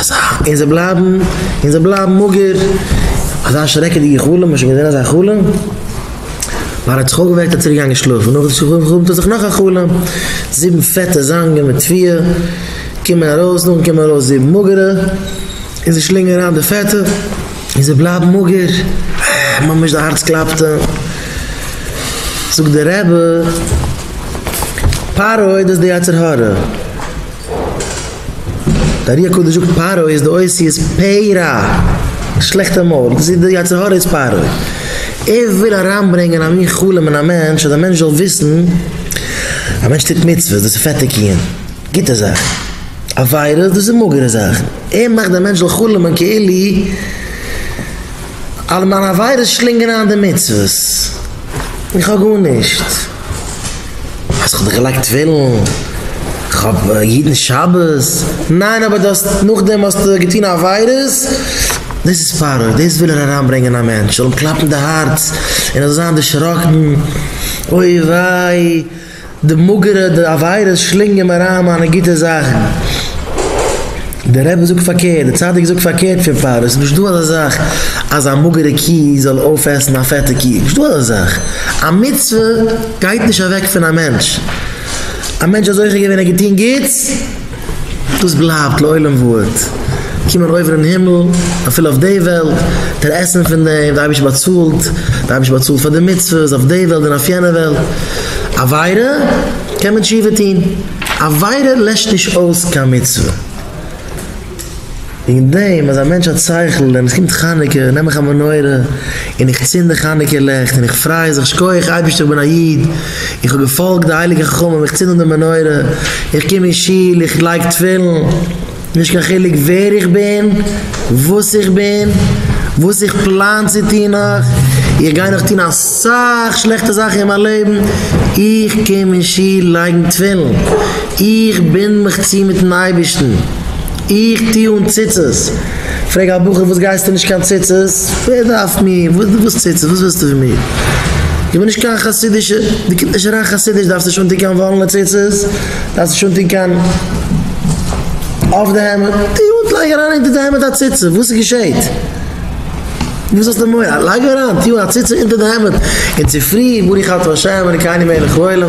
אזא. און זיי בלייבן, און זיי בלייבן מאגער. אזא שרעקעדיגע חלום, האסט שוין געזען אזא חלום? ווייל ער האט זיך אויפגעוועקט האט צוריקגעגאנגען שלאפן, נאך די שלאף חלומ'ט ער זיך נאך א חלום, זיבן פעטע זאנגען מיט פיאה קומען ארויס, נאכדעם קומען ארויס זיבן מאגערע, און זיי שלינגען אריין די פעטע, און זיי בלייבן מאגער, אה, ממש די הארץ קלאפט אים. זאגט דער רבי, פרעה האט דאס די יצר הרע. די ארי הקדוש זאגט פרעה איז די אויסי איז פ ר, שלעכטע מויל, דאס איז די יצר הרע איז פרעה. ער וויל אריינברענגען א מין חלום אין א מענטש אז די מענטש זאל וויסן א מענטש טוט מצוות דאס איז פעטע קיען, גוטע זאכן, עבירות דאס איז מאגערע זאכן. ער מאכט די מענטש זאל חלומ'ען כאילו אלע מיינע עבירות שלינגען איין די מצוות. איך האב גארנישט. האסט דאך געלייגט תפילין, כ'האב יעדן שבת, ניין אבער דו האסט נאכדעם האסטו געטון עבירות, דאס איז פארעווער, דאס וויל ער אריינברענגען א מענטש זאל אים קלאפן די הארץ און ער זאל זיין דערשראקן, אוי וויי די מאגערע די עבירות שלינגען מיר אריין מיינע גוטע זאכן. דער רבי זאגט פארקערט, דער צדיק זאגט פארקערט פון פאר, עס איז נישטא אזא זאך אז א מאגערע קי זאל אויפעסן א פעטע קי, נישטא אזא זאך, א מצוה גייט נישט אוועק פון א מענטש, א מענטש האט זוכה געווען ער האט געטון גוטס, דאס בלייבט לעולם ועד, קומען אויבן אין הימל, אפילו אויף די וועלט, דער עסן פון דעם, דער אייבערשטער באצאלט, דער אייבערשטער באצאלט פאר די מצוות אויף די וועלט און אויף יענע וועלט, עבירה, קען מען תשובה טון. עבירה לעשט נישט אויס קיין מצוה. וועגן דעם אז א מענטש האט שכל און עס קומט חנוכה נעם איך א מנורה און איך צינד די חנוכה לעכט און איך פריי זיך שכוח אייבערשטער איך בין א איד איך האב געפאלגט די הייליגע חכמים איך צינד אן די מנורה איך קום אין שול איך לייג תפילין. נישט קיין חילוק ווער איך בין, וואס איך בין, וואס איך פלאן צו טון נאך, איך גיי נאך טון אסאך שלעכטע זאכן אין מיין לעבן, איך קום אין שול לייגן תפילין, איך בינד מיך צו מיטן אייבערשטן, איך טו אן ציצית, פרעג א בחור וואס גייסטו נישט קיין ציצית, ווער דארף מיר, וואס ציצית, וואס ווילסטו פון מיר, איך בין נישט קיין חסידישע, דו קומסט נישט אריין חסידיש דארפסט נישט אנטון קיין וואלענע ציצית. דארפסט נישט אנטון קיין אויף די העמד די הוט לייג אריין אונטער די העמד א ציצית וואס איז געשעהט? וואס האסטו מורא? לייג אריין טו א ציצית אונטער די העמד און צופרי ברוך אתה ה' אלקינו מלך העולם.